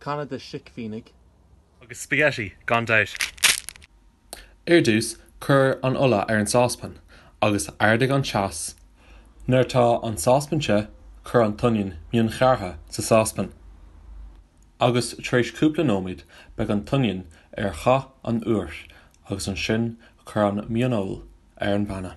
Canna de sicphiseánaigh. Agus spaghetti, gan dabht. Ar dtús, cuir an ola ar an sáspan agus ardaigh an teas. Nuair atá an sáspan te, cuir an t-oinniún mionghearrtha sa sáspan. Agus tar éis cúpla nóiméad, beidh an t-oinniún ar dhath an óir agus ansin cuir an mhionfheoil ar an bpanna.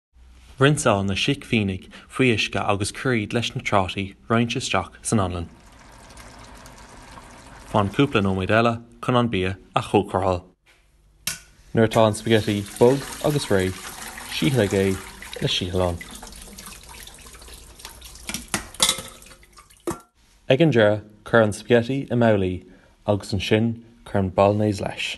Rinseáil na sicphiseánaigh faoi uisce agus cuir iad leis na trátaí roinnte isteach san anlann. Fan cúpla nóiméad eile chun an bia a chócaráil. Nuair atá an spaghetti bog agus réidh, síothlaigh é le síothlán. Ag an deireadh, cuir an spaghetti i mbabhlaí agus ansin cuir an bolognese leis.